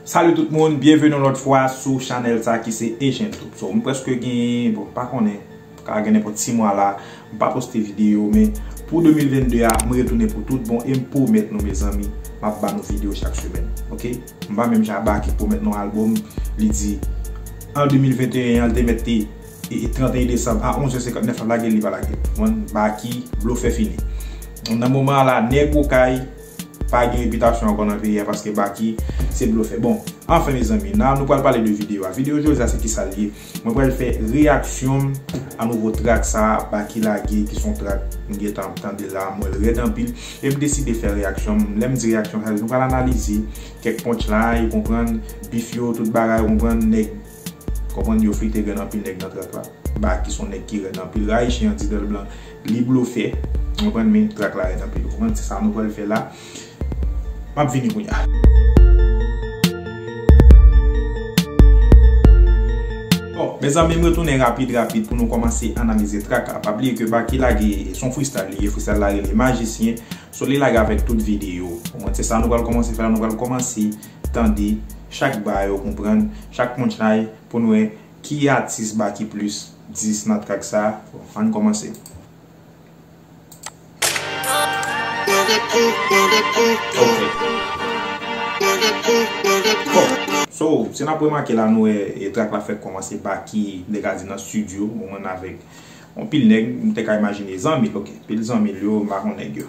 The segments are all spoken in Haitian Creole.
Salut tout moun, byenveni yon lòt fwa sou chanèl sa ki se Ejentoub So, m preske gen, bon, pa konnen, ka gen nenpòt 6 mwa la m pa poste videyo, men pou 2022 a, m retounen pou tout bon e m pwomèt nou mezanmi, m ap ba nou videyo chak semèn Ok, m pa menm jan Baky k pwomèt nou albòm, li di an 2021 an, l te mèt te. 31 desanm a 11 è 59 lap lagel li pa lagel bon Baky blofè fini nan moman an la nèg okay pa gen repitasyon ankò nan peyi a paske Baky se blofè bon anfen mezanmi nan nou pral pale de video a video jodi a se kisa l ye mwen pral fè reyaksyon m a nouvo track sa Baky lage ki son track m gentan ap tande la m wèl rèd anpil e m deside fè reyaksyon m lèm di reyaksyon sa vle di nou pral analize kèk punchline ou konprann bif yo tout bagay ou konprann nèg Konprann yo frite grenn anpil nèg nan trak la. Baky son nèg ki rèd anpil rayi chen an di dèl blan li blofè ou konprann men trak la rèd anpil ou konprann se sa nou pral fè la map vini kounya. Bon mezanmi m retounen rapid rapid pou nou kòmanse analize trak la pa bliye ke Baky lage son freestyle li ye freestyle la rele majisyen so li lage avèk tout video ou konprann se sa nou pral kòmanse fè la nou pral kòmanse. tande chak ba yo konprann chak punchline pou n wè ki atis ba ki plis 10 nan track sa bon ann kòmanse. So si nap remake la nou wè track la fèk kòmanse Baky m te ka di nan studio ou menm avèk anpil nèg m te ka imajine zanmi l ok anpil zanmi l yo m pa konn nèg yo.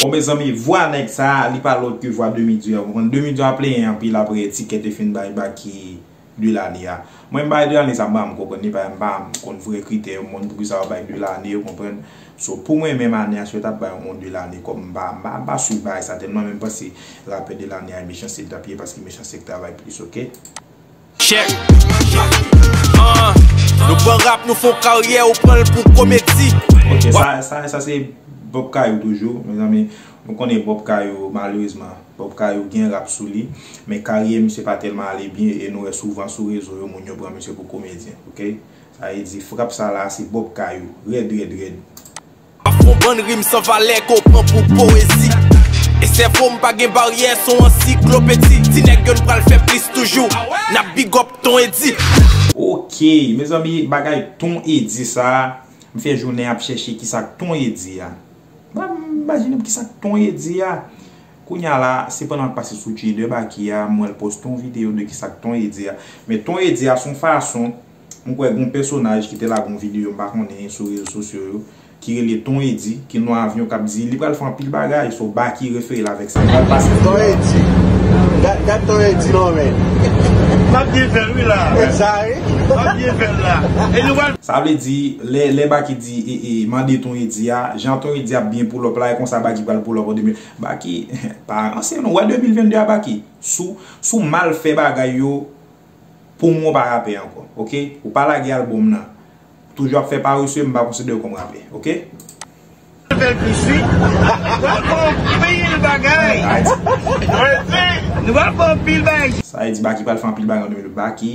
Bon mezanmi vwa nèg sa li pa lòt ke vwa demi dieu a ou konprann demi dieu a plenyen anpil aprè tikè te fin bay baky 2 lane a mwen m bay 2 lane sa m pa konprann li paske m pa konn vrè kritè yon moun poukisa yo bay 2 lane ou konprann so pou mwen menm ane a si yo tap bay yon 2 lane kòm m pa m pa swiv bagay sa tèlman men m panse rapè de lane a e mechanse li tap ye paske mechanse k travay plis ok. Check Ah Nou pran rap nou fon karyè ou pranl pou komedi. Ok sa sa se Bob Kayou toujou mezanmi nou konnen Bob Kayou malerezman Bob Kayou gen rap sou li men karyè misye pa tèlman ale byen e nou wè souvan sou rezo yo moun yo pran misye pou komedyen ok sa vle di frap sa la se Bob Kayou rèd rèd rèd. Avk yon bann rim san valè ke w pran pou powezi E sèvo m pa gen baryè s on ansiklopedi Ti nèg yo n pral fè plis toujou N ap big up Ton Eddy. Ok mezanmi bagay ton Eddy sa m fè jounen ap chèche kisa k ton Eddy a Ba m imajine m kisa k ton Eddy a Kounya la se pandan m ap pase sou Jay2Baky a m wè l poste yon videyo de kisa k ton Eddy a Men ton Eddy a s on fason M kwè gon pèsonaj ki te lage yon video m pa konnen sou rezo sosyo yo ki rele Ton Eddy ki nan avyon kap di li pral fè anpil bagay so Baky refere l avèk sa pral pase anpil bagay. Ton Eddy Gad ton Eddy non men. Map byen fèl wi la. E sa wi. Map byen fèl la. E nou pral. Sa vle di lè Baky di e mande ton Eddy a jan ton Eddy ap byen poulòp la e konsa Baky pral poulòp an 2000 Baky pa ranse non ou wè 2022 a Baky sou mal fè bagay yo Pou mwen ou pa rapè ankò ok ou pa lage album nan toujou ap fè parese m pa konsiderew kòm rapè ok. Bèl pisi Nou aprann anpil bagay Nou aprann anpil bagay Sa vle di Baky pral fè anpil bagay an 2020 Baky.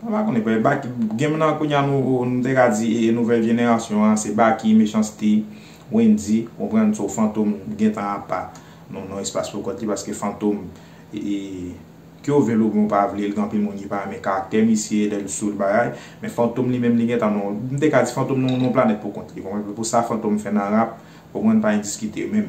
Mwen pa konnen vre, Baky game nan kounya nou te ka di nouvèl jenerasyon an se Baky, Mechanste, Wendy ou konprann so Fantom gentan apa nan espas pou kont li paske Fantom ke ou vle l oubyen ou pa vle l gen anpil moun ki pa renmen karaktè misye lè l sou l bagay men Fantom li menm li gentan nan m te ka di Fantom nan yon planèt pou kont li ou konprann pou sa Fantom fè nan rap ou konprann pa endiskite menm.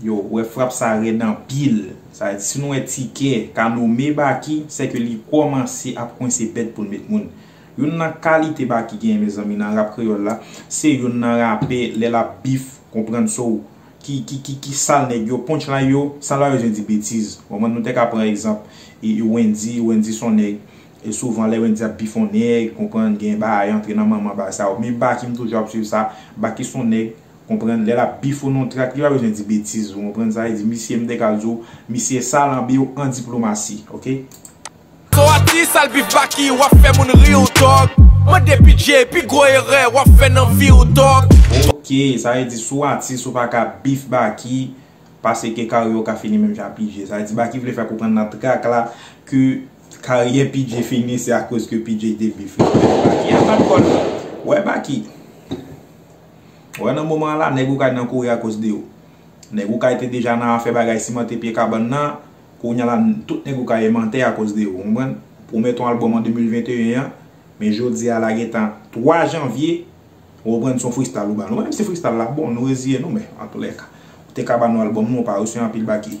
Yo wè frap sa rèd anpil. Sa vle di si nou wè tikè ka nome Baky sè ke li kòmanse ap kwense bèt pou l met moun. Youn nan kalite Baky genyen mezanmi nan rap kreyòl la se youn nan rapè lè l ap beef konprann so w ki ki ki ki sal nèg yo punchline yo sal pa bezwen di betiz ou konprann nou te ka pran egzanp Wendy Wendy s on nèg souvan lè Wendy ap beef on nèg konprann gen bagay antre nan manman bagay sa yo men Baky m toujou ap swiv sa Baky s on nèg Konprann lè lap bif ou non trak li pa bezwen di betiz ou konprann sa vle di misye mte ka di w misye sal anbe w an diplomasi ok. Son atis al bif baky wap fè moun ri ou tòg mande pidje pi gwo erè wap fè nan vi ou tòg. Ok sa vle di sou atis ou paka bif baky pase ke karyè w ka fini menm jan ak pidje sa vle di baky vle fè konprann nan trak la ke karyè pidje fini se akoz ke pidje te bif li baky a bat kòl wè baky. Ou wè nan moman an la, nèg Okay nan kouri akoz de ou. Nèg Okay te deja nan afè bagay simante pye kabann nan, kounye a la tout nèg Okay emante akoz de ou, ou konprann? Ou pwomèt yon album an 2021 an, men jodi a la gen tan 3 janvye, ou konprann son fristal ou ba nou. Menm si fristal la bon, nou reziye nou men, antoulèka, ou te ka ba nou album nou, ou pa resevwa anpil baky.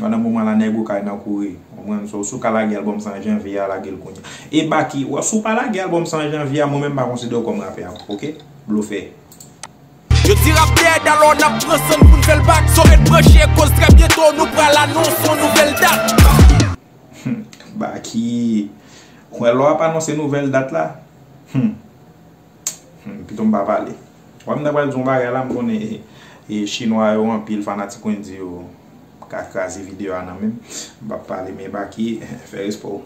Pandan moman la nèg okay nan kouri konprann so si w ka lage album sa an janvye a lage l kounya e baky si w pa lage album sa an janvye a mwen menm m pa konsidere w kòm rapè ankò ok blofè. Yo di rap dead alò nap pran san n poun fèl back so ret branche koz trè byento nou pral anons yon nouvèl dat. Humm Baky Ou wè lè wap anonse nouvèl dat la Humm. Humm pito m pa pale. Wè m ta pral di yon bagay la m konnen chinwa yo anpil fanatik Wendy yo ka kraze video a nan menm m pap pale men Baky fè respè w.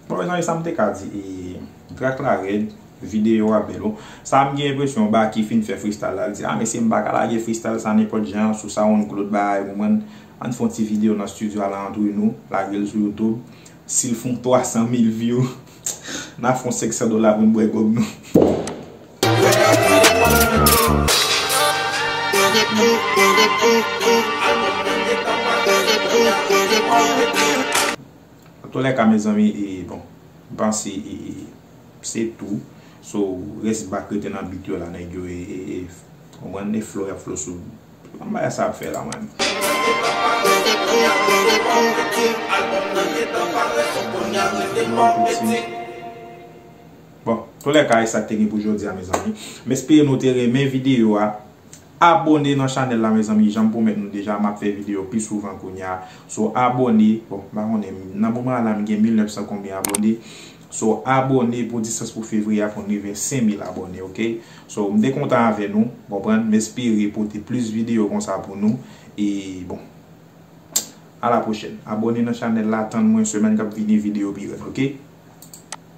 Bon mezanmi sam te ka di ee track la rèd video a bèl oh sa m gen enpresyon Baky fin fè freestyle la l di ah mesye m pa ka lage freestyle sa nenpòt jan an sou soundcloud bagay ou konprann ann fè yon ti video nan studio ala antre nou lage l sou youtube si l fè yon 300 mil view n a fè yon 500 dola pou n bwè gòg nou. Nan tou lè ka mezanmi e bon m panse e se tou so rès bak rete nan beat yo la nèg yo e konprann e flow yap flow sou an bagay sa ap fè la man. Bon tou lè ka e sak te gen pou jodi a mezanmi m espere nou te renmen video a. Abone nan chanel la mezanmi janm pwomèt nou deja map fè video pi souvan kounya so abone bon m pa konnen nan moman an la m gen 1900 konbyen abone so abone pou distans pou fevriye a pou n rive 5000 abone ok so m te kontan avè nou ou konprann m espere pote plis video konsa pou nou e bon a la pwochèn abone nan chanel la tann mwen semèn kap vini video pi rèd ok.